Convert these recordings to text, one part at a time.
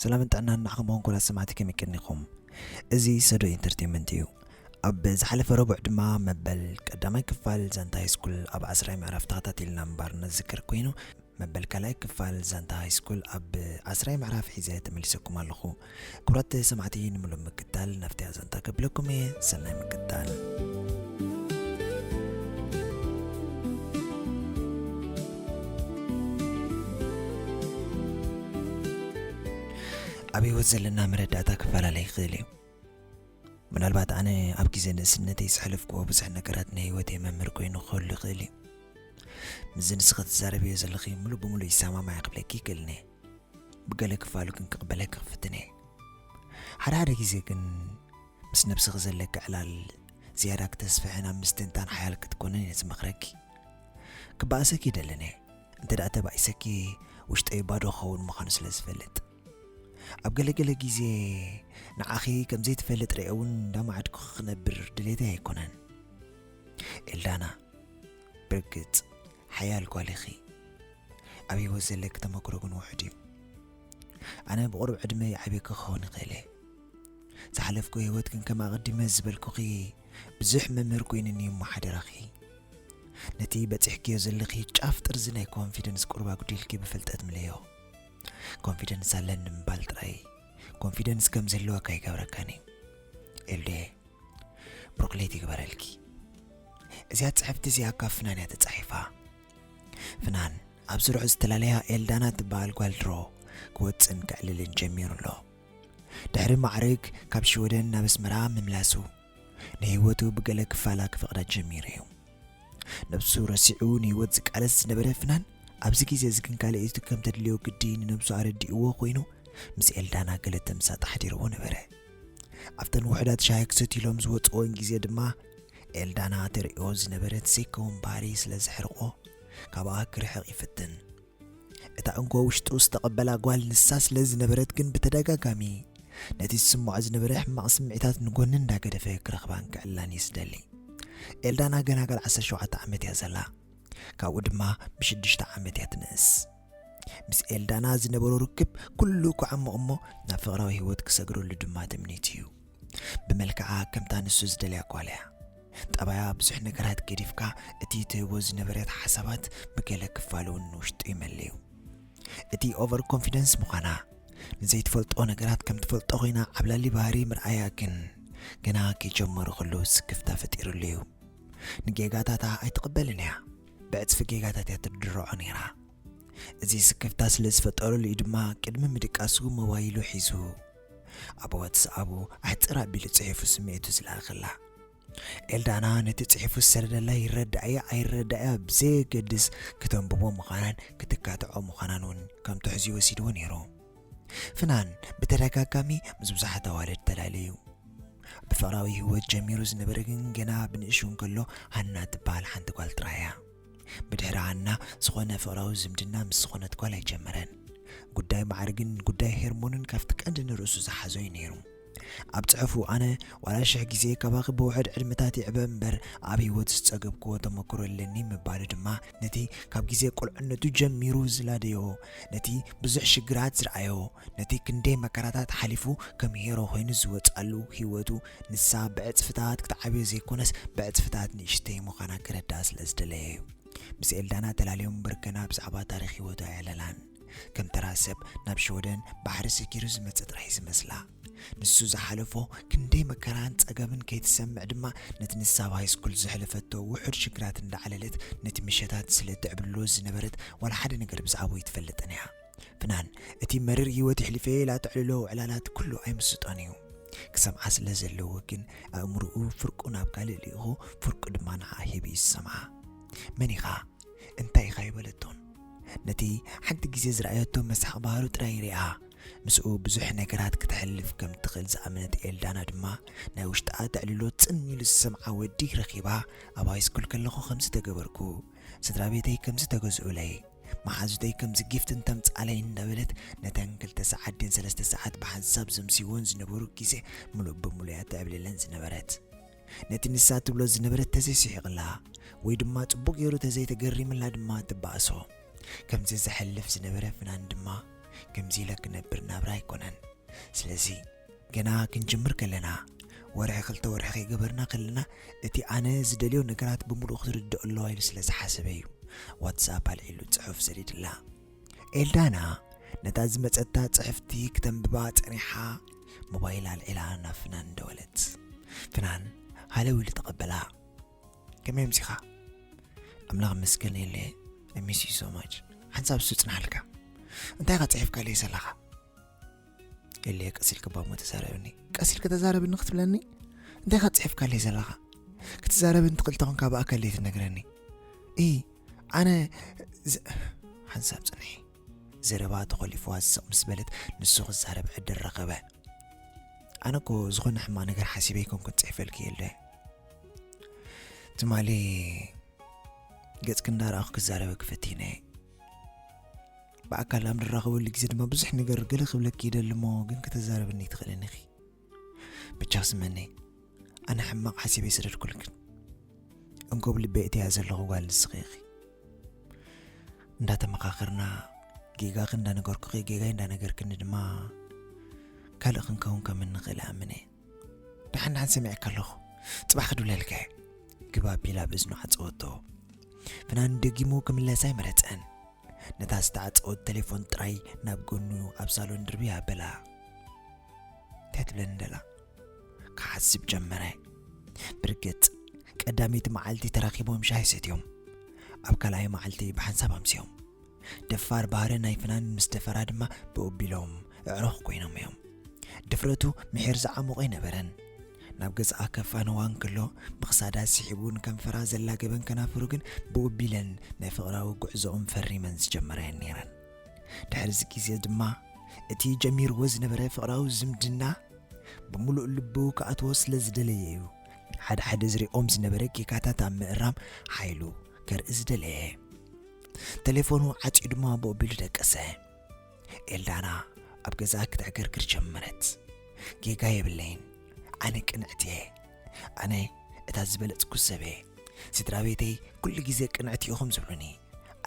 ሰላምን ጥዕናን ንዓኹም እውን ኩላት ሰማዕቲ ከም ይቅኒኹም እዚ ሰዶ ኢንተርቴንመንት እዩ ኣብ ዝሓለፈ ረቡዕ ድማ መበል ቀዳማይ ክፋል ዛንታ ሃይስኩል ኣብ ዓስራይ ምዕራፍ ተኸታቲልና ምንባር ነዝክር ኮይኑ መበል ካልኣይ ክፋል ዛንታ ሃይስኩል ኣብ ዓስራይ ምዕራፍ ሒዘ ተመሊሰኩም ኣለኹ ክብራት ሰማዕቲ ንምሉእ ምክታል ናፍቲያ ዛንታ ከብለኩም እየ ሰናይ ምክታል። ኣብ ህይወት ዘለና መረዳእታ ክፈላለ ይኽእል እዩ ምናልባት ኣነ ኣብ ግዜ ንእስነተይ ዘሕለፍክዎ ብዙሕ ነገራት ናይ ህይወተይ መምህር ኮይኑ ክህሉ ይኽእል እዩ ምስዚ ንስኺ ትዛረብዮ ዘለኺ ሙሉእ ብምሉእ ይሰማማዕ ክብለኪ ይክእል እነ ብገለ ክፋሉ ግን ክቕበለኪ ክፍትን እየ ሓደ ሓደ ግዜ ግን ምስ ነብስኺ ዘለኪ ዕላል ዝያዳ ክተስፍሕን ኣብ ምስትንታን ሓያል ክትኮንን እየ ዝመኽረኪ ክበኣሰኪ ይደልን እየ እንተ ደኣ ተባኢሰኪ ውሽጠይ ባዶ ክኸውን ምዃኑ ስለ ዝፈልጥ ኣብ ገለገለ ግዜ ንዓኺ ከም ዘይትፈልጥ ርአ እውን እንዳማዕድኩ ክነብር ድሌተይ ኣይኮነን ኤልዳና ብርግጽ ሓያል ጓል ኢኺ ኣብ ሂወት ዘለኪ ተመክሮ ግን ውሑድ እዩ ኣነ ብቑሩብ ዕድመ ይዓብየኪ ክኸውን ይኽእል እየ ዝሓለፍኩ ሂወት ግን ከም ኣቐዲመ ዝበልኩኺ ብዙሕ መምህር ኮይኑኒ እዩ እሞ ሓደራኺ ነቲ በፂሕክዮ ዘለኺ ጫፍ ጥርዚ ናይ ኮንፊደንስ ቁሩብ ኣጉዲልኪ ብፍልጠት ምለዮ ኮንፊደንስ ኣለኒ ምባል ጥራይ ኮንፊደንስ ከም ዘለወካ ይገብረካኒ ኤልዱየ ብሮክሌት ይግበረልኪ እዚኣ ጽሕፍቲ እዚኣ ካብ ፍናን እያ ተጻሒፋ ፍናን ኣብ ስርሑ ዝተላለያ ኤልዳና ትበሃል ጓል ድሮ ክወጽን ክዕልልን ጀሚሩ ኣሎ ድሕሪ ማዕርግ ካብ ሽወደን ናብ ኣስመራ ምምላሱ ንህይወቱ ብገለ ክፋላ ክፈቕዳ ጀሚሩ እዩ ነብሱ ረሲዑ ንህይወት ዝቃለስ ዝነበረ ፍናን ኣብዚ ግዜ እዚ ግን ካልእቱ ከም ተድልዮ ግዲ ንነብሱ ኣረዲእዎ ኮይኑ ምስ ኤልዳና ገለ ተምሳጥ ኣሕዲርዎ ነበረ ኣብተን ውሑዳት ሻሂ ክሰትዩ ኢሎም ዝወጽእወን ግዜ ድማ፣ ኤልዳና ትርእዮ ዝነበረት ዘይከውን ባህሪ ስለ ዘሕርቖ፣ ካብኣ ክርሕቕ ይፍትን። እታ እንኮ ውሽጡ ዝተቐበላ ጓል ንሳ ስለ ዝነበረት ግን ብተደጋጋሚ ነቲ ዝስምዖ ዝነበረ ሕማቕ ስምዒታት ንጎኒ እንዳገደፈ ክረኽባን ክዕላን እዩ ዝደሊ። ኤልዳና ገና ጋል ዓሰርተ ሸውዓተ ዓመት እያ ዘላ። ካብኡ ድማ ብሽዱሽተ ዓመት እያ ትንእስ። ምስ ኤልዳና ዝነበሮ ርክብ ኩሉ ክዓሙቕ እሞ ናብ ፍቕራዊ ህይወት ክሰግረሉ ድማ ትምኒት እዩ ብመልክዓ ከምታ ንሱ ዝደልያ ጓል እያ ጠባያ ብዙሕ ነገራት ገዲፍካ እቲ ትህቦ ዝነበረት ሓሳባት ብገለ ክፋል እውን ንውሽጡ ይመለዩ እቲ ኦቨር ኮንፊደንስ ምዃና ንዘይትፈልጦ ነገራት ከም ትፈልጦ ኮይና ዓብላሊ ባህሪ ምርኣያ ግን ገና ከይጀመሩ ከለዉ ስክፍታ ፈጢሩሉ እዩ ንጌጋታታ ኣይትቕበልን እያ ብዕጽፊ ጌጋታት እያ ትድርዖ ነይራ። እዚ ስክፍታ ስለ ዝፈጠረሉ'ዩ ድማ ቅድሚ ምድቃሱ ሞባይሉ ሒዙ ኣብ ዋትስኣቡ ኣሕጽር ኣቢሉ ጽሒፉ ስምዒቱ ዝለኣኸላ። ኤልዳና ነቲ ጽሒፉ ዝሰደደላ ይረዳእያ ኣይረዳእያ ብዘየገድስ ክተንብቦ ምዃናን ክትካትዖ ምዃናን እውን ከም ትሕዝኡ ወሲድዎ ነይሩ። ፍናን ብተደጋጋሚ ምስ ብዙሓት ኣዋልድ ተላለዩ። ብፍቕራዊ ህይወት ጀሚሩ ዝነበረ ግን ገና ብንእሽው እንከሎ ሃና ትበሃል ሓንቲ ጓል ጥራይ እያ። ብድሕሪ ሃና ዝኾነ ፍቕራዊ ዝምድና ምስ ዝኾነት ጓል ኣይጀመረን። ጉዳይ ማዕርግን ጉዳይ ሄርሞንን ካብቲ ቀንዲ ንርእሱ ዝሓዞ እዩ ነይሩ። ኣብ ጽሑፉ ኣነ ዋላ ሽሕ ግዜ ካባኺ ብውሑድ ዕድመታት ይዕበ እምበር ኣብ ህይወት ዝጸገብክዎ ተመክሮ የለኒ ምባሉ ድማ ነቲ ካብ ግዜ ቁልዕነቱ ጀሚሩ ዝላደዮ ነቲ ብዙሕ ሽግራት ዝረኣዮ ነቲ ክንደይ መከራታት ሓሊፉ ከም ሄሮ ኮይኑ ዝወጻሉ ህይወቱ ንሳ ብዕጽፍታት ክትዓብዮ ዘይኮነስ ብዕጽፍታት ንእሽተይ ምዃና ክረዳእ ስለ ዝደለየ እዩ ምስ ኤልዳና ተላልዮም እምበር ገና ብዛዕባ ታሪኽ ህይወቱ ኣየዕለላን ከም ተራ ሰብ ናብ ሽወደን ባሕሪ ሰጊሩ ዝመጸ ጥራሕ'ዩ ዝመስላ። ንሱ ዝሓለፎ ክንደይ መከራን ጸገምን ከይትሰምዕ ድማ ነቲ ንሳ ኣብ ሃይስኩል ዘሕለፈቶ ውሑድ ሽግራት እንዳዕለለት ነቲ ምሸታት ስለ እትዕብልሎ ዝነበረት ዋላ ሓደ ነገር ብዛዕብኡ ኣይትፈልጥን'ያ። ፍናን እቲ መሪር ህይወት የሕሊፈ'የ ኢላ እተዕልሎ ዕላላት ኩሉ ኣይምስጦን'ዩ። ክሰምዓ ስለ ዘለዎ ግን ኣእምርኡ ፍርቁ ናብ ካልእ ልኢኹ ፍርቁ ድማ ንዓኣ ሂቡ'ዩ ዝሰምዓ። መን ኢኻ? እንታይ ኢኻ ኣይበለቶን። ነቲ ሓንቲ ግዜ ዝረኣየቶ መሳኺ ባህሩ ጥራይ ርእያ። ምስኡ ብዙሕ ነገራት ክተሕልፍ ከም እትኽእል ዝኣመነት ኤልዳና ድማ፣ ናይ ውሽጣ ኣተዕልሎ ጽን ኢሉ ዝሰምዓ ወዲ ረኺባ። ኣብ ሃይስኩል ከለኹ ከምዚ ተገበርኩ፣ ስድራቤተይ ከምዚ ተገዝኡለይ፣ መሓዙተይ ከምዚ ጊፍት እንተምጽኣለይ እንዳበለት ነተን ክልተ ሰዓት ድን ሰለስተ ሰዓት ብሓንሳብ ዘምስይወን ዝነበሩ ግዜ ምሉእ ብምሉእ'ያ እተዕብልለን ዝነበረት። ነቲ ንሳ እትብሎ ዝነበረት ተዘይስሒቕላ ወይ ድማ ጽቡቕ ገይሩ ተዘይተገሪምላ ድማ ትባእሶ። ከምዚ ዘሕልፍ ዝነበረ ፍናን ድማ ከምዚ ኢለ ክነብር ናብራ ኣይኮነን። ስለዚ ገና ክንጅምር ከለና ወርሒ ክልተ ወርሒ ከይገበርና ከለና እቲ ኣነ ዝደልዮ ነገራት ብምሉእ ክትርድኦ ኣለዋ ኢሉ ስለ ዝሓሰበ እዩ ዋትስኣፕ ኣልዒሉ ጽሑፍ ሰዲድላ። ኤልዳና ነታ ዝመጸታ ጽሕፍቲ ክተንብባ ጸኒሓ ሞባይል ኣልዒላ ናብ ፍናን ደወለት ፍናን ሃለው ኢሉ ተቐበላ ከመይ ኣምሲኻ ኣምላኽ መስገን የለ ሚስ ዩ ሶ ማች ሓንሳብ ሱጽናሃልካ እንታይ ኸ ጽሒፍካለይ ዘለኻ ገሌ ቀስ ኢልካ ባሞ ተዛረብኒ ቀስ ኢልካ ተዛረብኒ ክትብለኒ እንታይ ካብ ፅሒፍካለይ ዘለኻ ክትዛረብን ትኽእል ተኾንካ ብኣከለይ ትነግረኒ እ ኣነ ሓንሳብ ፅንሒ ዘረባ ተኾሊፍዋ ዝስቕ ምስ በለት ንሱ ክዛረብ ዕድል ረኸበ ኣነ እኮ ዝኾነ ሕማቕ ነገር ሓሲበ ይኮንኩን ፅሒፈልኪ የለ ትማሊ ገፅኪ እንዳረኣኹ ክዛረበ ክፈቲነ ብኣካል ኣብ ንራኸበሉ ግዜ ድማ ብዙሕ ነገር ገለ ክብለኪ ይደሊ እሞ ግን ከተዛረብኒ ትኽእልን ኢኺ ብቻ ስመነይ ኣነ ሕማቕ ሓሲበ ይሰደድኩልክን እንኮብ ልበይ እትያ ዘለኹ ጓል ንስኺ ኢኺ እንዳተመኻኸርና ጌጋኺ እንዳነገርኩኺ ጌጋይ እንዳነገርክኒ ድማ ካልእ ክንከውን ከም እንኽእል ኣምነ ድሓን ድሓን ሰሚዐካ ኣለኹ ፅባሕ ክድብለልከ ግባ ቢላ ብእዝኑ ዓፀወቶ ፍናን ደጊሙ ክምለሳ ኣይመረፀን ነታ ዝተዓጸወት ተሌፎን ጥራይ ናብ ጎኑ ኣብ ሳሎን ድርብይ ኣበላ። እንታይ ትብለኒ ደላ ክሓስብ ጀመረ ብርግጽ ቀዳመይቲ መዓልቲ ተራኺቦም ሻሂ ሰትዮም ኣብ ካልኣይ መዓልቲ ብሓንሳብ ኣምስዮም ደፋር ባህሪ ናይ ፍናን ምስ ደፈራ ድማ ብኡቢሎም እዕሩኽ ኮይኖም እዮም ድፍረቱ ምሒር ዝዓሙቕ ኣይነበረን ናብ ገዝኣ ከፋንዋ እንክሎ ብክሳዳ ስሒቡን ከንፈራ ዘላገበን ከናፍሩ ግን ብውብ ኢለን ናይ ፍቕራዊ ጉዕዞኦም ፈሪመን ዝጀመራየን ነይረን። ድሕሪዚ ግዜ ድማ እቲ ጀሚርዎ ዝነበረ ፍቕራዊ ዝምድና ብምሉእ ልቡ ክኣትዎ ስለ ዝደለየ እዩ ሓደ ሓደ ዝሪኦም ዝነበረ ጌጋታት ኣብ ምእራም ሓይሉ ከርኢ ዝደለየ። ተሌፎኑ ዓጽዩ ድማ ብኡቢሉ ደቀሰ። ኤልዳና ኣብ ገዛ ክተዕገርግር ጀመረት ጌጋ የብለይን ኣነ ቅንዕቲ እየ ኣነ እታ ዝበለጽኩ ሰብ እየ ስድራ ቤተይ ኩሉ ግዜ ቅንዕቲ ኢኹም ዝብሉኒ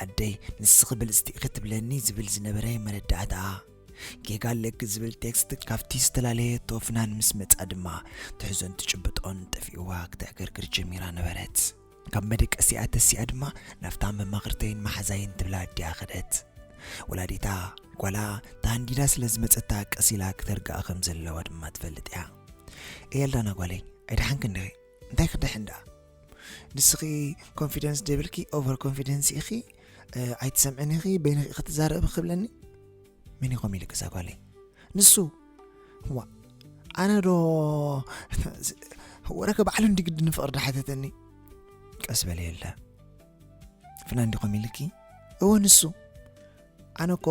ኣደይ ንስኺ ብልጽቲ ኢኺ ትብለኒ ዝብል ዝነበረ መረዳእታ ጌጋ ኣለኪ ዝብል ቴክስት ካብቲ ዝተፈላለየቶ ፍናን ምስ መጻ ድማ ትሕዞን ትጭብጦን ጠፊእዋ ክተዕገርግር ጀሚራ ነበረት ካብ መደቀሲኣ ተሲኣ ድማ ናብታ መማኽርተይን መሓዛይን ትብላ ኣዲኣ ከደት። ወላዲታ ጓላ ተሃንዲዳ ስለ ዝመጸታ ቀስ ኢላ ክተርግኣ ከም ዘለዋ ድማ ትፈልጥ እያ። ኤልዳና ጓለይ ኣይደሓንክ እንደ እንታይ ክደሕን ደኣ ንስኺ ኮንፊደንስ ደብልኪ ኦቨር ኮንፊደንስ ኢኺ ኣይትሰምዕን ኢኺ በይንኺ ክትዛረቢ ክብለኒ መን ይኾም ኢሉ ገዛ ጓለይ ንሱ ዋእ ኣነ ዶ ወረከ ባዕሉ እንዲ ግዲ ንፍቕሪ ዳሓተተኒ ቀስ በለ የለ ፍና እንዲ ኮም ኢልኪ እወ ንሱ ኣነ እኮ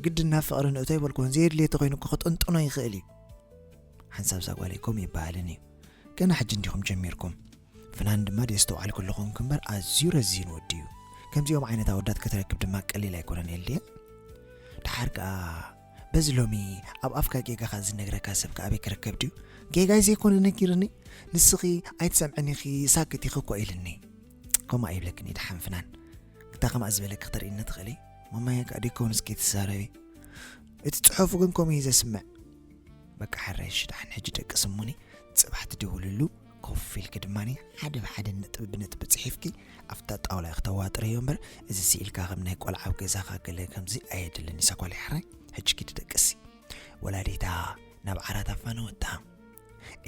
ግዲ ናብ ፍቕሪ ንእቶ ይበልኩን ዘየድልየ ተኮይኑ እኮ ክጥንጥኖ ይኽእል እዩ ሓንሳብ ዛጓለይ ኮም ይበሃልን እዩ ገና ሕጂ እንዲኹም ጀሚርኩም ፍናን ድማ ደየስተውዓልኩ ኣለኹ እምበር ኣዝዩ ረዚን ወዲ እዩ ከምዚኦም ዓይነት ኣወዳት ከተረክብ ድማ ቀሊል ኣይኮነን ኤልድየ ድሓር ከኣ በዚ ሎሚ ኣብ ኣፍካ ጌጋኻ ዝነግረካ ሰብ ከ ኣበይ ክርከብ ድዩ ጌጋይ ዘይኮነ ነጊርኒ ንስኺ ኣይትሰምዕን ኢኺ ሳክት ኢኺ እኮ ኢልኒ ከምኡ ኣይብለክን ድሓን ፍናን እንታ ከምኣ ዝበለኪ ክተርእኒ ትኽእሊ መማያ ከዓ ዲኮውን እስኪ ትዛረቢ እቲ ፅሑፉ ግን ከምኡ እዩ ዘስምዕ በቃ ሓረሽ ድሓን ሕጂ ደቂ ስሙኒ ፅባሕ ትድውልሉ ኮፍ ኢልኪ ድማ ሓደ ብሓደ ነጥቢ ብነጥቢ ጽሒፍኪ ኣብታ ጣውላ ኢኺ ተዋጥረዮ እምበር እዚ ስኢልካ ከም ናይ ቆልዓ ኣብ ገዛኻ ገለ ከምዚ ኣየድልን እዩ ሳጓለይ ሕራይ ሕጂ ኪዲ ደቅሲ ወላዲታ ናብ ዓራት ኣፋነወታ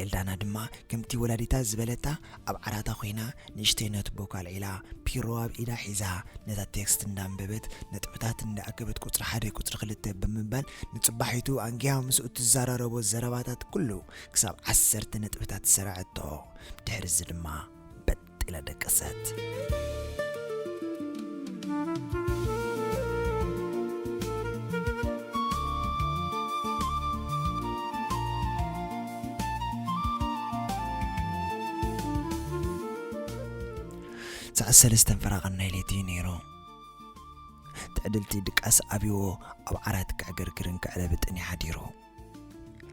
ኤልዳና ድማ ከምቲ ወላዲታ ዝበለታ ኣብ ዓራታ ኮይና ንእሽተይ ነትቦ ካልዒላ ፒሮ ኣብ ኢዳ ሒዛ ነታ ቴክስት እንዳንበበት ነጥብታት እንዳኣከበት ቁፅሪ ሓደ ቁፅሪ ክልተ ብምባል ንፅባሒቱ ኣንጊያ ምስኡ ትዘራረቦ ዘረባታት ኩሉ ክሳብ ዓሰርተ ነጥብታት ሰርዐቶ፣ ድሕርዚ ድማ በጥ ኢላ ደቀሰት። ሰዓት ሰለስተን ፈራቐን ናይ ለይቲ እዩ ነይሩ ትዕድልቲ ድቃስ ኣብዎ ኣብ ዓራት ክዕግርግርን ክዕለብጥን ይሓዲሩ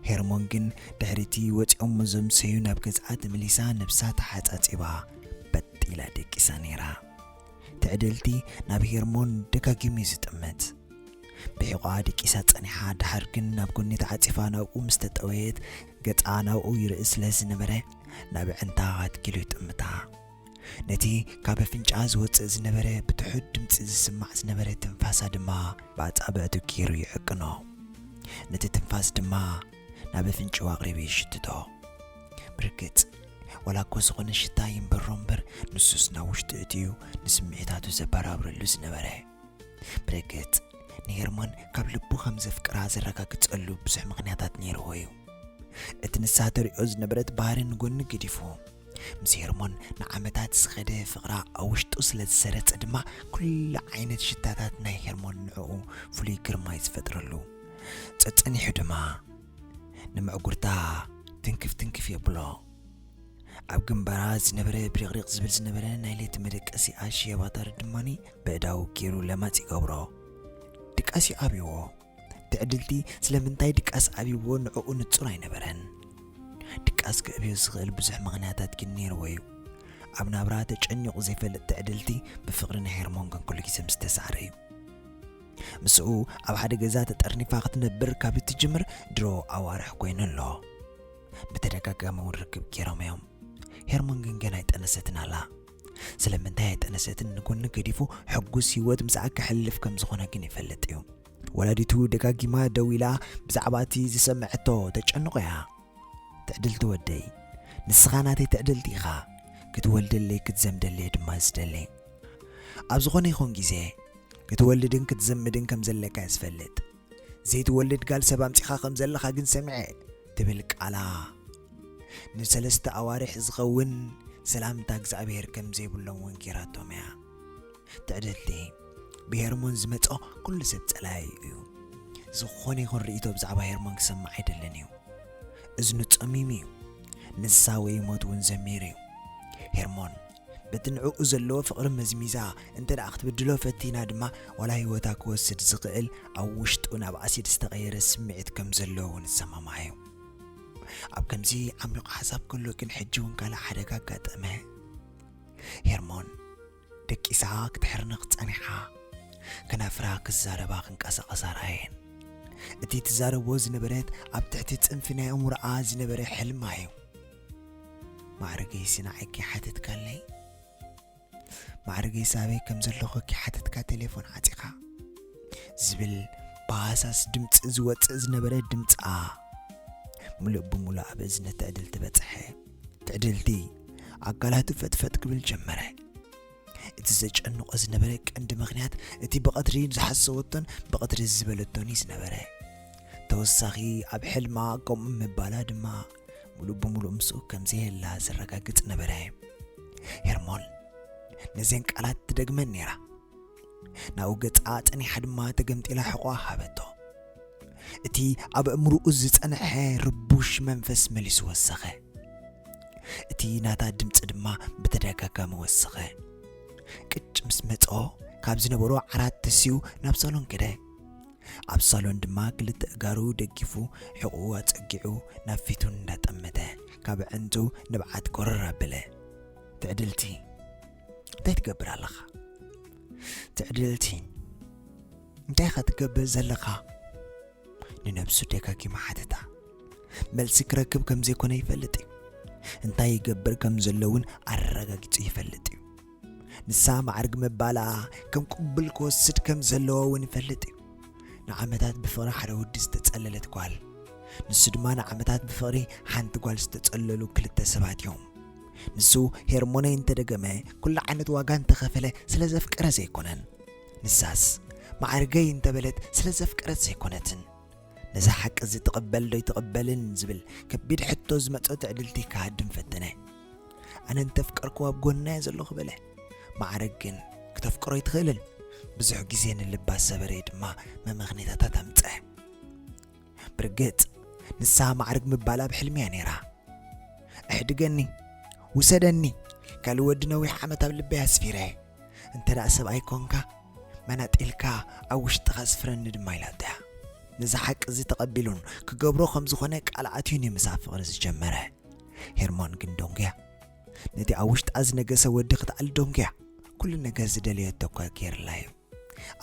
ሄርሞን ግን ድሕሪ'ቲ ወጺኦሞ ዘምሰዩ ናብ ገዝኣ ተመሊሳ ነብሳ ተሓጻጺባ በጥ ኢላ ደቂሳ ነይራ። ትዕድልቲ ናብ ሄርሞን ደጋጊሙ'ዩ ዝጥምት። ብሒቝኣ ደቂሳ ጸኒሓ ደሓር ግን ናብ ጎኒ ተዓጺፋ ናብኡ ምስ ተጠወየት ገጻ ናብኡ ይርኢ ስለ ዝነበረ ናብ ኣዕንታ ኣትኪሉ ይጥምታ። ነቲ ካብ ኣፍንጫኣ ዝወጽእ ዝነበረ ብትሑት ድምጺ ዝስማዕ ዝነበረ ትንፋሳ ድማ ብኣጻብዕቱ ገይሩ ይዕቅኖ። ነቲ ትንፋስ ድማ ናብ ኣፍንጭኡ ኣቕሪቡ ይሽትቶ። ብርግጽ ዋላ እኮ ዝኾነ ሽታ ይንበሮ እምበር ንሱስ ናብ ውሽጡ እትዩ ንስምዒታቱ ዘበራብረሉ ዝነበረ። ብርግጽ ንሄርሞን ካብ ልቡ ከም ዘፍቅራ ዘረጋግጸሉ ብዙሕ ምኽንያታት ነይርዎ እዩ። እቲ ንሳ ተርእዮ ዝነበረት ባህሪ ንጎኒ ገዲፉ ምስ ሄርሞን ንዓመታት ዝኸደ ፍቕራ ኣብ ውሽጡ ስለ ዝሰረጸ ድማ ኩሉ ዓይነት ሽታታት ናይ ሄርሞን ንዕኡ ፍሉይ ግርማ እዩ ዝፈጥረሉ። ጸጸኒሑ ድማ ንምዕጉርታ ትንክፍ ትንክፍ የብሎ። ኣብ ግንባራ ዝነበረ ብሪቕሪቕ ዝብል ዝነበረ ናይ ለይቲ መደቀሲኣ ሽየባታሪ ድማ በእዳው ገይሩ ለማጽ ይገብሮ። ድቃስ'ዩ ኣብይዎ። ትዕድልቲ ስለምንታይ ድቃስ ኣብይዎ ንዕኡ ንጹር ኣይነበረን። ድቃስ ክዕብዮ ዝኽእል ብዙሕ ምኽንያታት ግን ነይርዎ'ዩ። ኣብ ናብራ ተጨኒቑ ዘይፈልጥ ትዕድልቲ ብፍቕሪ ንሄርሞን ግን ኩሉ ግዜ ምስ ተሳዕረ'ዩ። ምስኡ ኣብ ሓደ ገዛ ተጠርኒፋ ክትነብር ካብ እትጅምር ድሮ ኣዋርሕ ኮይኑ ኣሎ። ብተደጋጋሚ እውን ርክብ ገይሮም እዮም። ሄርሞን ግን ገና ኣይጠነሰትን ኣላ። ስለምንታይ ኣይጠነሰትን ንጎኒ ገዲፉ ሕጉስ ህይወት ምስኣ ከሕልፍ ከም ዝኾነ ግን ይፈልጥ እዩ። ወላዲቱ ደጋጊማ ደው ኢላ ብዛዕባ እቲ ዝሰምዐቶ ተጨንቆ እያ። ትዕድልቲ ወደይ፣ ንስኻ ናተይ ትዕድልቲ ኢኻ፣ ክትወልደለይ ክትዘምደለይ ድማ ዝደሊ። ኣብ ዝኾነ ይኹን ግዜ ክትወልድን ክትዘምድን ከም ዘለካ እየ ዝፈልጥ። ዘይትወልድ ጋል ሰብ ኣምጺኻ ከም ዘለኻ ግን ሰሚዐ ትብል ቃላ ንሰለስተ ኣዋርሕ ዝኸውን ሰላምታ እግዝኣብሄር ከም ዘይብሎም ውን ጌራቶም እያ ትዕድልቲ ብሄርሞን ዝመጾ ኩሉ ሰብ ጸላዩ እዩ ዝኾነ ይኹን ርእይቶ ብዛዕባ ሄርሞን ክሰምዕ ኣይደልን እዩ እዝኑ ጸሚሙ እዩ ንሳ ወይ ሞት እውን ዘሚሩ እዩ ሄርሞን በቲ ንዕኡ ዘለዎ ፍቕሪ መዝሚዛ እንተ ደኣ ክትብድሎ ፈቲና ድማ፣ ዋላ ህይወታ ክወስድ ዝኽእል ኣብ ውሽጡ ናብ ኣሲድ ዝተቐየረ ስምዒት ከም ዘሎ እውን እሰማማዕ እየ። ኣብ ከምዚ ዓሚቝ ሓሳብ ከሎ ግን ሕጂ እውን ካልእ ሓደጋ ኣጋጠመ። ሄርሞን ደቂሳ ክትሕርንኽ ጸኒሓ። ከናፍራ ክዛረባ ክንቀሳቐሳ ረኣየን። እቲ ትዛረቦ ዝነበረት ኣብ ትሕቲ ጽንፊ ናይ ኣእምሮኣ ዝነበረ ሕልማ እዩ። ማዕርገይሲ ንዓኪ ሓቲትካለይ ማዕርገይሲ ኣበይ ከም ዘለኩ ኪሓትትካ ቴሌፎን ዓጺኻ ዝብል ብሃሳስ ድምፂ ዝወፅእ ዝነበረ ድምፃ ሙሉእ ብሙሉእ ኣብ እዝኒ ትዕድልቲ በፅሐ ትዕድልቲ ኣካላቱ ፈጥፈጥ ክብል ጀመረ እቲ ዘጨንቆ ዝነበረ ቀንዲ ምክንያት እቲ ብቐትሪ ዝሓሰወቶን ብቐትሪ ዝበለቶን እዩ ዝነበረ ተወሳኺ ኣብ ሕልማ ከምኡ ምባላ ድማ ሙሉእ ብሙሉእ ምስኡ ከም ዘየላ ዘረጋግጽ ነበረ። ሄርሞን ነዘን ቃላት ትደግመን ነይራ። ናብኡ ገጻ ጸኒሓ ድማ ተገምጢላ ሕቖ ሃበቶ። እቲ ኣብ እምርኡ ዝጸንሐ ርቡሽ መንፈስ መሊሱ ወሰኸ። እቲ ናታ ድምፂ ድማ ብተደጋጋሚ ወሰኸ። ቅጭ ምስ መጾ ካብ ዝነበሮ ዓራት ተስዩ ናብ ሳሎን ከደ። ኣብ ሳሎን ድማ ክልተ እጋሩ ደጊፉ ሕቑኡ ኣጸጊዑ ናብ ፊቱ እንዳጠመተ ካብ ኣዕንቱ ንብዓት ጎረር ኣበለ። ትዕድልቲ እንታይ ትገብር ኣለኻ? ትዕድልቲ እንታይ ኢኻ ትገብር ዘለኻ? ንነብሱ ደጋጊሙ ሓተታ። መልሲ ክረክብ ከም ዘይኮነ ይፈልጥ እዩ። እንታይ ይገብር ከም ዘሎ እውን ኣረጋጊጹ ይፈልጥ እዩ። ንሳ ማዕርግ ምባላ ከም ቅቡል ክወስድ ከም ዘለዎ እውን ይፈልጥ እዩ ንዓመታት ብፍቕሪ ሓደ ወዲ ዝተጸለለት ጓል ንሱ ድማ ንዓመታት ብፍቕሪ ሓንቲ ጓል ዝተጸለሉ ክልተ ሰባት እዮም ንሱ ሄርሞነ እንተደገመ ኩሉ ዓይነት ዋጋ እንተኸፈለ ስለ ዘፍቀረ ዘይኮነን ንሳስ ማዕርገይ እንተበለት ስለ ዘፍቀረት ዘይኮነትን ነዛ ሓቂ እዚ ትቕበል ዶ ይትቕበልን ዝብል ከቢድ ሕቶ ዝመጾ ትዕድልቲ ክሃድም ፈተነ ኣነ እንተፍቀርክዎ ኣብ ጎንናዮ ዘለኹ በለ ማዕረግ ግን ክተፍቅሮ ኣይትኽእልን ብዙሕ ግዜ ንልባ ሰበረየ ድማ መመኽኔታታት ኣምፀ ብርግፅ ንሳ ማዕርግ ምባል ኣብ ሕልሚ እያ ነይራ እሕድገኒ ውሰደኒ ካልእ ወዲ ነዊሕ ዓመት ኣብ ልበይ ኣስፊረ እንተ ደኣ ሰብኣይ ኮንካ መናጢልካ ኣብ ውሽጥኻ ስፍረኒ ድማ ኢላቶ እያ ነዚ ሓቂ እዚ ተቐቢሉን ክገብሮ ከም ዝኾነ ቃል ኣትዩን እዩ ምስ ኣብ ፍቕሪ ዝጀመረ ሄርሞን ግን ደንጉያ ነቲ ኣብ ውሽጣ ዝነገሰ ወዲ ክትኣሊ ደንጉያ ኩሉ ነገር ዝደለየቶ እኳ ገይርላ እዩ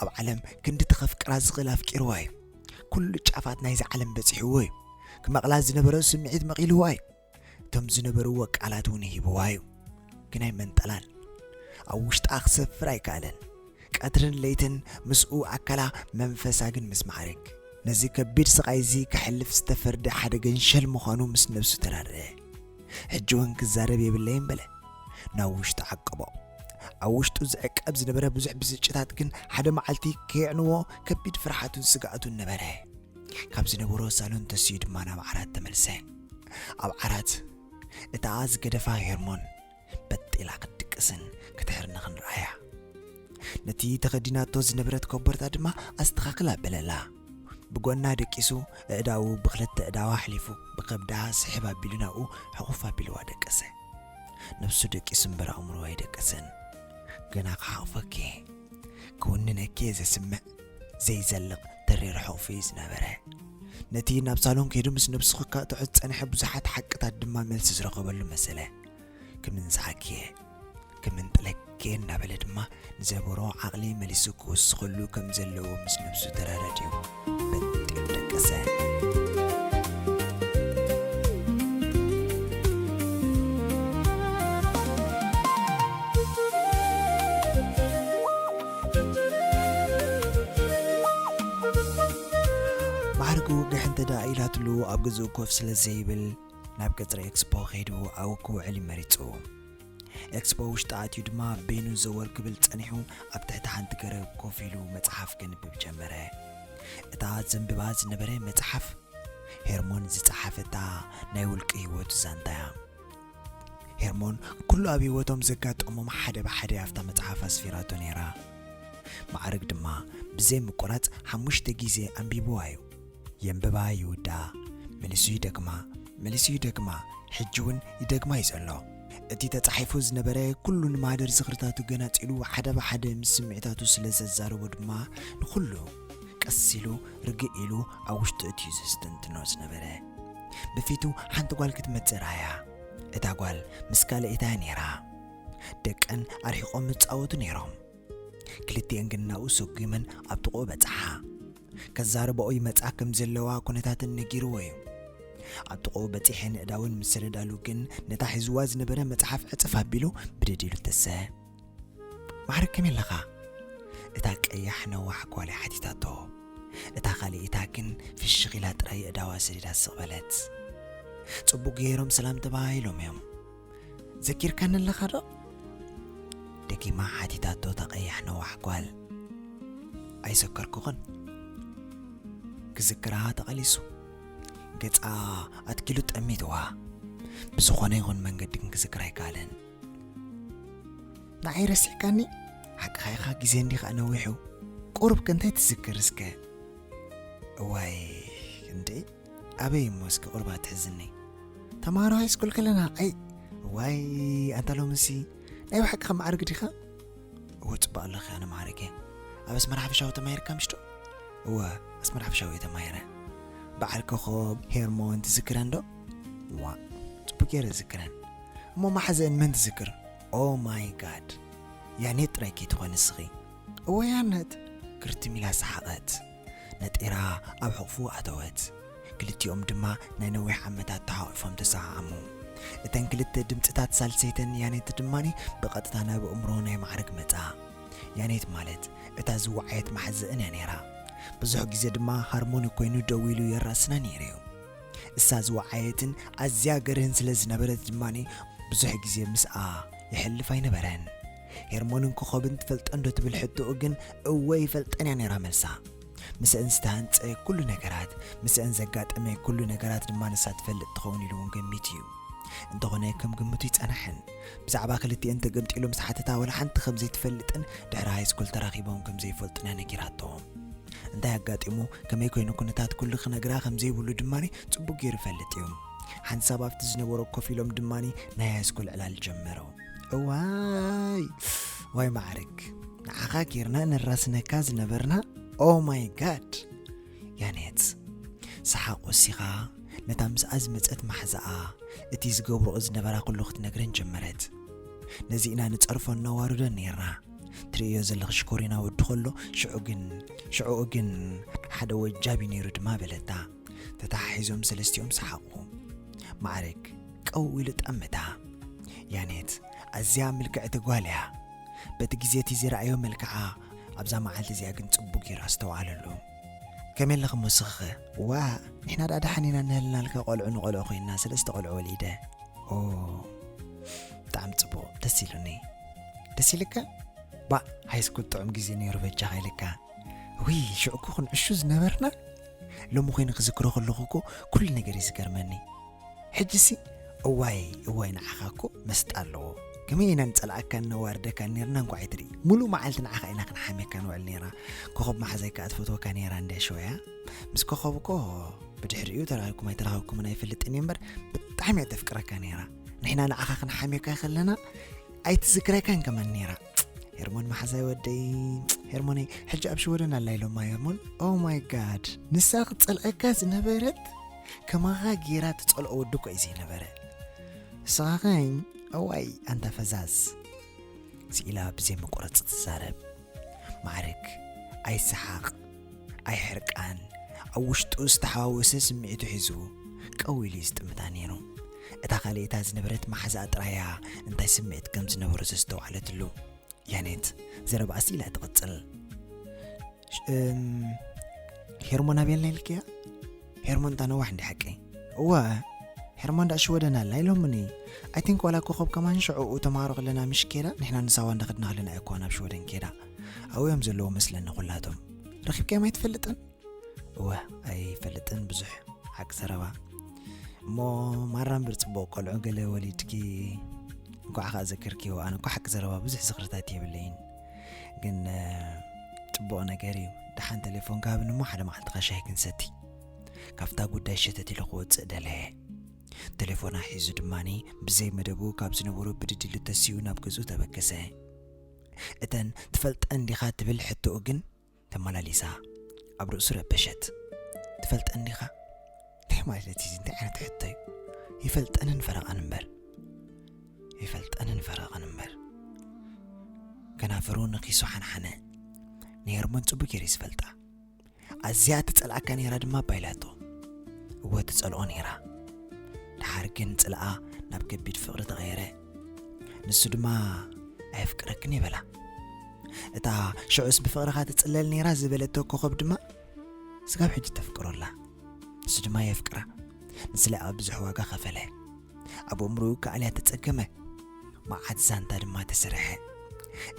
ኣብ ዓለም ክንዲ ተኸፍቅራ ዝኽእል ኣፍቂርዋ እዩ ኩሉ ጫፋት ናይዚ ዓለም በፂሕዎ እዩ ክመቕላ ዝነበረ ስምዒት መቒልዋ እዩ እቶም ዝነበርዎ ቃላት እውን ሂብዋ እዩ ግን ኣይመንጠላን ኣብ ውሽጣ ክሰፍር ኣይከኣለን ቀትርን ለይትን ምስኡ ኣካላ መንፈሳ ግን ምስ መዓርግ ነዚ ከቢድ ስቓይ እዚ ከሕልፍ ዝተፈርደ ሓደ ገንሸል ምዃኑ ምስ ነብሱ ተራድእ። ሕጂ እውን ክዛረብ የብለይን በለ። ናብ ውሽጡ ዓቀቦ። ኣብ ውሽጡ ዝዕቀብ ዝነበረ ብዙሕ ብስጭታት ግን ሓደ መዓልቲ ከየዕንዎ ከቢድ ፍርሓቱን ስግኣቱን ነበረ። ካብ ዝነበሮ ሳሎን ተሲኡ ድማ ናብ ዓራት ተመልሰ። ኣብ ዓራት እታ ዝገደፋ ሄርሞን በጥ ኢላ ክትድቅስን ክትሕርንኽን ረኣያ። ነቲ ተኸዲናቶ ዝነበረት ኮቦርታ ድማ ኣስተኻኽላ በለላ። ብጎና ደቂሱ እዕዳኡ ብክልተ እዳዋ ኣሕሊፉ ብከብዳ ስሕብ ኣቢሉ ናብኡ ሕኹፍ ኣቢልዋ ደቀሰ። ነብሱ ደቂሱ እምበር ኣእምሮ ኣይደቀሰን። ገና ክሓቕፈኪ ክውንነኪ ዘስምዕ ዘይዘልቕ ተሪር ሕቑፊ እዩ ዝነበረ። ነቲ ናብ ሳሎን ከይዱ ምስ ነብሱ ክካጥዑ ዝጸንሐ ብዙሓት ሓቅታት ድማ መልሲ ዝረኸበሉ መሰለ። ክምንጽሓኪየ ክምንጥለኪየ እናበለ ድማ ንዘበሮ ዓቕሊ መሊሱ ክውስኸሉ ከም ዘለዎ ምስ ነብሱ ተረረድዩ በንጢሩ ደቀሰ ማዕርጉ ግሕ እንተ ደኣ ኢላትሉ ኣብ ግዝኡ ኮፍ ስለ ዘይብል ናብ ቀጽሪ ኤክስፖ ከይዱ ኣብኡ ክውዕል መሪጹ። ኤክስፖ ውሽጢ ኣትዩ ድማ በይኑ ዘወር ክብል ጸኒሑ ኣብ ትሕቲ ሓንቲ ገረብ ኮፍ ኢሉ መጽሓፍ ከንብብ ጀመረ። እታ ዘንብባ ዝነበረ መጽሓፍ ሄርሞን ዝጸሓፈታ ናይ ውልቂ ህይወቱ ዛንታ እያ። ሄርሞን ኩሉ ኣብ ህይወቶም ዘጋጠሞም ሓደ ብሓደ ኣብታ መጽሓፍ ኣስፊራቶ ነይራ። ማዕርግ ድማ ብዘይ ምቁራጽ ሓሙሽተ ግዜ ኣንቢብዋ እዩ። የንብባ ይውድኣ መሊሱ ይደግማ መሊሱ ይደግማ ሕጂ እውን ይደግማ እዩ ዘሎ እቲ ተጻሒፉ ዝነበረ ኩሉ ንማህደር ዝኽርታቱ ገናጺሉ ሓደ ብሓደ ምስ ስምዒታቱ ስለ ዘዛረቦ ድማ ንኹሉ ቀስ ኢሉ ርግእ ኢሉ ኣብ ውሽጡ እትዩ ዘስተንትኖ ዝነበረ ብፊቱ ሓንቲ ጓል ክትመጽእ ረኣያ እታ ጓል ምስ ካልኣይታ ነይራ ደቀን ኣርሒቖም ይጻወቱ ነይሮም ክልቲኤን ግን ናብኡ ሰጒመን ኣብ ጥቕኡ በጽሓ። ከዛርባኦ ይመጻ ከም ዘለዋ ኩነታተን ነጊርዎ እዩ። ኣብ ጥቕኡ በጺሐን ኣእዳወን ምስ ሰደዳሉ ግን ነታ ሒዝዋ ዝነበረ መጽሓፍ ዕጽፍ ኣቢሉ ብድድ ኢሉ ተሰ ማዕረ ከመይ ኣለኻ? እታ ቀያሕ ነዋሕ ጓል ሓቲታቶ። እታ ካልኢታ ግን ፍሽኽ ኢላ ጥራይ ኣእዳዋ ሰዲዳ ስቕ በለት። ጽቡቕ ገይሮም ሰላም ተባሂሎም እዮም። ዘኪርካኒ ኣለኻ ዶ? ደጊማ ሓቲታቶ እታ ቀያሕ ነዋሕ ጓል። ኣይዘከርኩኽን። ክዝክራ ተቐሊሱ ገጻ ኣትኪሉ ጠሚትዋ። ብዝኾነ ይኹን መንገዲ ግን ክዝክር ኣይከኣለን። ንዓይ ረሲዕካኒ? ሓቅኻ ኢኻ ግዜ እንዲ ከኣ ነዊሑ ቁሩብ ከ እንታይ ትዝክር እስከ? እዋይ እንዴ ኣበይ እሞ እስኪ ቁሩብ ኣትሕዝኒ። ተማሃሮ ሃይስኩል ከለና ኣይ እዋይ ኣንታ ሎምሲ ናይ ብሓቂ ከም መዓርግ ዲኻ? እወ ጽቡቕ ኣለኺ ኣነ መዓርግ እየ። ኣብ ኣስመራ ሓፈሻዊ ተማሂርካ ምሽዶ? እወ ኣስመራ ሓፈሻዊ እየ ተማሂረ። በዓል ኮኾብ ሄርሞን ትዝክረን ዶ? ዋ ጽቡቅ ገይረ ዝክረን እሞ ማሓዘአን መን ትዝክር ኦ ማይ ጋድ ያኔት ጥራይ ከይትኾኒ ስኺ እወ ያነት ክርትም ኢላ ሰሓቐት ነጢራ ኣብ ሕቕፉ ኣተወት። ክልቲኦም ድማ ናይ ነዊሕ ዓመታት ተሓቝፎም ተሰዓዓሙ። እተን ክልተ ድምጽታት ሳልሰይተን ያኔት ድማ ብቐጥታ ናብ ኣእምሮ ናይ ማዕርግ መጻ። ያኔት ማለት እታ ዝወዓየት መሓዝእን እያ ነይራ። ብዙሕ ግዜ ድማ ሃርሞኒ ኰይኑ ደው ኢሉ የራስና ነይሩ'ዩ። እሳ ዝወዓየትን ኣዝያ ገርህን ስለ ዝነበረት ድማ ብዙሕ ግዜ ምስኣ የሕልፍ ኣይነበረን። ሄርሞንን ኮኾብን ትፈልጠን ዶ ትብል ሕቶኡ ግን እወ ይፈልጠን እያ ነይራ መልሳ። ምስአን ዝተሃንጸ ኩሉ ነገራት፣ ምስአን ዘጋጠመ ኩሉ ነገራት ድማ ንሳ ትፈልጥ ትኸውን ኢሉ እውን ገሚቱ እዩ። እንተኾነ ከም ግምቱ ይጸናሕን። ብዛዕባ ክልቲኤን ተገምጢሉ ምስ ሓተታ ወላ ሓንቲ ከም ዘይትፈልጥን ድሕሪ ሃይስኩል ተራኺቦም ከም ዘይፈልጡን እያ ነጊራቶ። እንታይ ኣጋጢሙ ከመይ ኮይኑ ኩነታት ኩሉ ክነግራ ከም ዘይብሉ ድማ ጽቡቕ ገይሩ ይፈልጥ እዩ። ሓንሳብ ኣብቲ ዝነበሮ ኮፍ ኢሎም ድማ ናይ ሃይስኩል ዕላል ጀመረው። እዋይ ዋይ ማዕርግ ንዓኻ ጌርና ንራስነካ ዝነበርና ኦ ማይ ጋድ ያኔት ሰሓቅ ወሲኻ ነታ ምስኣ ዝመፀት ማሕዛኣ እቲ ዝገብርኦ ዝነበራ ኩሉ ክትነግረን ጀመረት ነዚ ኢና ንፀርፎ እናዋርዶ ነይርና ትርእዮ ዘለኺ ሽኮሪና ወዲ ከሎ ሽዑ ግን ሽዕኡ ግን ሓደ ወጃብ እዩ ነይሩ ድማ በለታ ተተሓሒዞም ሰለስቲኦም ሰሓቑ። ማዕርግ ቀው ኢሉ ጠመታ። ያኔት ኣዝያ ምልክዕቲ ጓል እያ። በቲ ግዜ እቲ ዝረኣዮ መልክዓ ኣብዛ መዓልቲ እዚኣ ግን ጽቡቕ ጌሩ ኣስተውዓለሉ። ከመይ ኣለኺ ሞስኽኸ? ዋእ ንሕና ደኣ ደሓን ኢና እንህልናልካ ቆልዑ ንቆልዑ ኮይንና ሰለስተ ቆልዑ ወሊደ። ኦ ብጣዕሚ ጽቡቕ ደስ ኢሉኒ። ደስ ኢልካ? ባእ ሃይስኩል ጥዑም ግዜ ነይሩ በጃኻ ኢልካ። ውይ ሽዑ እኮ ክንዕሹ ዝነበርና ሎሚ ኮይኑ ክዝክሮ ከለኹ እኮ ኩሉ ነገር እዩ ዝገርመኒ ሕጂሲ እዋይ እዋይ ንዓኻ እኮ መስጣ ኣለዎ ከመይ ኢና ንጸልኣካን ነዋርደካን ነርና እንኳዕ ኣይትርኢ ሙሉእ መዓልቲ ንዓኻ ኢና ክንሓምየካ ንውዕል ነይራ ኮኸብ መሓዛይ ከዓ ትፈትወካ ነይራ እንድያ ሸወያ ምስ ኮኸብ እኮ ብድሕሪኡ ተራኺብኩም ኣይተራኸብኩምን ኣይፈልጥን እየ እምበር ብጣዕሚ እየ ተፍቅረካ ነይራ ንሕና ንዓኻ ክንሓምየካ ከለና ኣይትዝክረካን ከመን ነይራ ሄርሞን መሓዛይ ወደይ ሄርሞነይ ሕጂ ኣብ ሽወደን ኣላ ኢሎማ ሄርሞን ኦ ማይ ጋድ ንሳ ክትጸልዐካ ዝነበረት ከማኻ ጌራ ትጸልኦ ወዲ እኮ እዩ ዘይነበረ ንስኻኸኝ እዋይ ኣንታ ፈዛዝ ስኢላ ብዘይ መቆረፂ ትዛረብ ማዕርግ ኣይሰሓቕ ኣይሕርቃን ኣብ ውሽጡ ዝተሓዋወሰ ስምዒቱ ሒዙ ቀው ኢሉ እዩ ዝጥምታ ነይሩ። እታ ካልኤታ ዝነበረት መሓዛኣ ጥራይ እያ እንታይ ስምዒት ከም ዝነበሮ ዘስተውዓለትሉ። ያኔት ዘረባኣ ስኢላ ትቕጽል። ሄርሞን ኣበየላ ኢልክያ? ሄርሞን ታነዋሕ እንዲ ሓቂ እወ ሄርሞን ዳ ሽወደን ኣላ ኢሎምኒ ኣይቲንክ ዋላ ኮኸብ ከማን ሽዑኡ ተምሃሮ ከለና ምሽ ኬዳ ንሕና ንሳዋ እንዳኸድና ከለና እኮ ናብ ሽወደን ኬዳ ኣብዮም ዘለዉ መስለኒ ኩላቶም ረኺብካዮም ኣይትፈልጥን እወ ኣይፈልጥን ብዙሕ ሓቂ ዘረባ እሞ ማራ እምበር ፅቡቅ ቆልዑ ገለ ወሊድኪ እንኳዕ ከዓ ዘክርክዮ ኣነ እኳ ሓቂ ዘረባ ብዙሕ ዝኽርታት የብለይን ግን ፅቡቅ ነገር እዩ ደሓን ቴሌፎን ካብን እሞ ሓደ መዓልቲ ካሻይ ክንሰቲ ካብታ ጉዳይ ሸተት ኢሉ ክወፅእ ደለየ ቴሌፎና ሒዙ ድማኒ ብዘይ መደቡ ካብ ዝነበሩ ብድድሉ ተሲኡ ናብ ገዝኡ ተበገሰ እተን ትፈልጠን ዲኻ ትብል ሕቶኡ ግን ተመላሊሳ ኣብ ርእሱ ረበሸት። ትፈልጠን ዲኻ? እንታይ ማለት እዩ? እንታይ ዓይነት ሕቶ እዩ? ይፈልጠንን ፈረቓን እምበር ይፈልጠንን ፈረቐን እምበር ከናፍሩ ንኪሱ ሓንሓነ ንሄርሞን ጽቡቅ ገይሩ ዝፈልጣ ኣዝያ ትጸልኣካ ነይራ ድማ ባይላቶ እወ ትጸልኦ ነይራ ድሓር ግን ጽልኣ ናብ ከቢድ ፍቕሪ ተቐየረ ንሱ ድማ ኣየፍቅረክን ይበላ እታ ሽዑስ ብፍቕርኻ ትጽለል ነይራ ዝበለቶ ኮኸብ ድማ ስጋብ ሕጂ ተፍቅሮ ኣላ ንሱ ድማ የፍቅራ ንስለ ኣብ ብዙሕ ዋጋ ኸፈለ ኣብ እምርኡ ከኣልያ ተጸገመ መዓት ዛንታ ድማ ተሰርሐ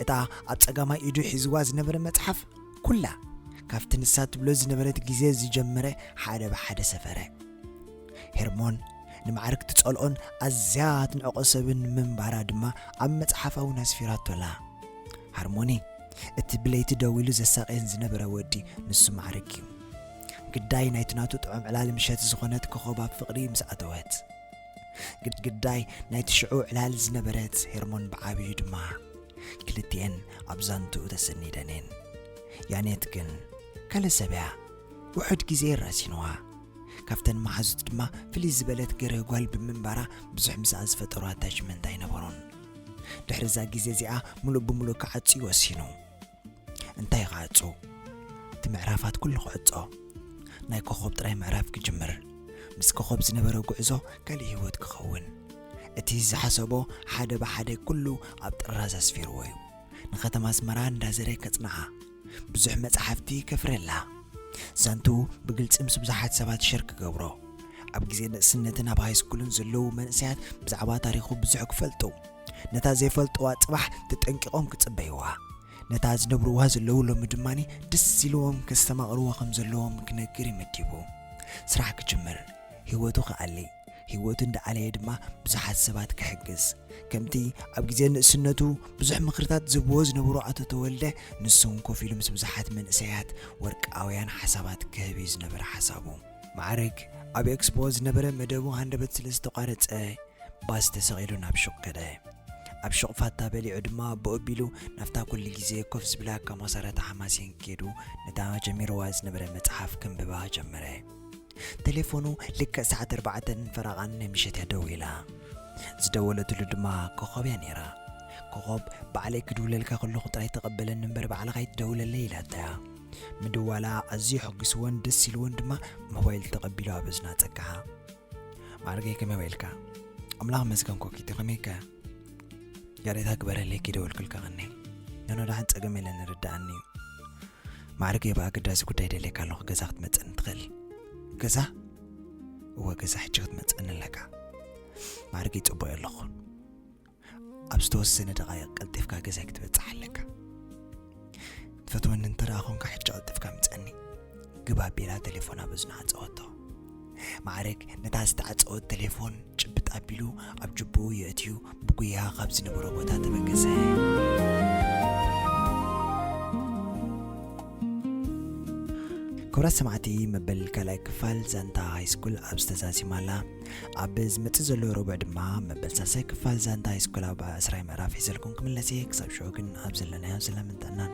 እታ ኣብ ጸጋማይ ኢዱ ሒዝዋ ዝነበረ መጽሓፍ ኩላ ካብቲ ንሳ ትብሎ ዝነበረት ግዜ ዝጀመረ ሓደ ብሓደ ሰፈረ። ሄርሞን ንማዕርግ ትጸልኦን ኣዝያ ትንዕቆ ሰብን ምንባራ ድማ ኣብ መጽሓፋ እውን ኣስፊራቶላ። ሃርሞኒ እቲ ብለይቲ ደው ኢሉ ዘሳቀየን ዝነበረ ወዲ ንሱ ማዕርግ እዩ። ግዳይ ናይቲ ናቱ ጥዑም ዕላል ምሸት ዝኾነት ኮኸብ ኣብ ፍቕሪ ምስ ኣተወት ግዳይ ናይቲ ሽዑ ዕላል ዝነበረት ሄርሞን ብዓብዩ ድማ ክልቲኤን ኣብ ዛንትኡ ተሰኒደን እየን። ያኔት ግን ካልእ ሰብ እያ። ውሑድ ግዜ እየ ራሲንዋ። ካብተን መሓዙት ድማ ፍልይ ዝበለት ገርህ ጓል ብምንባራ ብዙሕ ምስኣ ዝፈጠሮ ኣታችመንት ኣይነበሮን። ድሕሪ እዛ ግዜ እዚኣ ምሉእ ብምሉእ ክዓጹ ይወሲኑ። እንታይ ክዓጹ? እቲ ምዕራፋት ኩሉ ክዕጾ። ናይ ኮኾብ ጥራይ ምዕራፍ ክጅምር። ምስ ኮኾብ ዝነበረ ጉዕዞ ካልእ ህይወት ክኸውን። እቲ ዝሓሰቦ ሓደ ብሓደ ኩሉ ኣብ ጥራዝ ኣስፊርዎ እዩ። ንከተማ ኣስመራ እንዳዘረ ከጽንዓ። ብዙሕ መጻሕፍቲ ከፍርየላ። ዛንትኡ ብግልጺ ምስ ብዙሓት ሰባት ሸር ክገብሮ። ኣብ ግዜ ንእስነትን ኣብ ሃይስኩልን ዘለዉ መንእሰያት ብዛዕባ ታሪኹ ብዙሕ ክፈልጡ። ነታ ዘይፈልጥዋ ጽባሕ ተጠንቂቖም ክጽበይዋ። ነታ ዝነብርዋ ዘለዉ ሎሚ ድማ ደስ ኢልዎም ከስተማቕርዎ ከም ዘለዎም ክነግር እዩ መዲቡ። ስራሕ ክጅምር። ህይወቱ ክኣሊ። ህይወቱ እንዳዓለየ ድማ ብዙሓት ሰባት ክሕግዝ ከምቲ ኣብ ግዜ ንእስነቱ ብዙሕ ምኽርታት ዝብዎ ዝነበሩ ኣቶ ተወልደ ንሱውን ኮፍ ኢሉ ምስ ብዙሓት መንእሰያት ወርቃውያን ሓሳባት ክህብ እዩ ዝነበረ ሓሳቡ። ማዕርግ ኣብ ኤክስፖ ዝነበረ መደቡ ሃንደበት ስለ ዝተቋረጸ ባስ ተሰቒሉ ናብ ሹቕ ከደ። ኣብ ሹቕ ፋታ በሊዑ ድማ ብኡ ኣቢሉ ናብታ ኩሉ ግዜ ኮፍ ዝብላ ካሞሳራታ ሓማሴን ከይዱ ነታ ጀሚርዋ ዝነበረ መጽሓፍ ከንብባ ጀመረ። ተሌፎኑ ልክዕ ሰዓት ኣርባዕተን ፈረቓን ናይ ምሸት እያ ደዊላ። ዝደወለትሉ ድማ ኮኾብ እያ ነይራ። ኮኾብ ባዕለይ ክድውለልካ ከለኹ ጥራይ ተቐበለኒ እምበር ባዕልኻ ኣይትደውለለይ ኢላታ። ምድዋላ ኣዝዩ ሕጒስዎን ደስ ኢልዎን ድማ ሞባይል ተቐቢሉ ኣብ እዝና ጸግዓ። ማዕርገይ ከመይ ውዒልካ? ኣምላኽ መስገን ኮኪቶ ከመይከ? ይቕሬታ ግበረለይ ክይደወልኩልካ ቐኒ ኖኖ ደሓን ጸገም የለን ንርዳኣኒ እዩ ማዕርገይ ብኣገዳሲ ጉዳይ ደልየካ ኣለኹ ገዛ ክትመጽእኒ ትኽእል ገዛ እወ ገዛ ሕጂ ክትመጽእኒ ኣለካ ማዕርገይ ጽቡቕ ኣለኹ ኣብ ዝተወሰነ ደቓይቕ ቀልጢፍካ ገዛይ ክትበጽሕ ኣለካ ትፈትወኒ እንተደኣ ኾንካ ሕጂ ቀልጥፍካ ምጸኒ ግብ ኣቢላ ቴሌፎን ኣብ እዝና ዓጸወቶ ማዕረግ ነታ ዝተዓጸወት ቴሌፎን ጭብጥ ኣቢሉ ኣብ ጅብኡ የእትዩ ብጉያ ካብ ዝነበሮ ቦታ ተበገሰ ክብራት ሰማዕቲ መበል ካልኣይ ክፋል ዛንታ ሃይስኩል ኣብ ዝተዛዚማላ ኣብ ዝመጽእ ዘሎ ረቡዕ ድማ መበል ሳልሳይ ክፋል ዛንታ ሃይስኩል ኣብ ኣስራይ ምዕራፍ ሒዘልኩም ክምለስ እየ ክሳብ ሽዑ ግን ኣብ ዘለናዮ ሰላምን ጥዕናን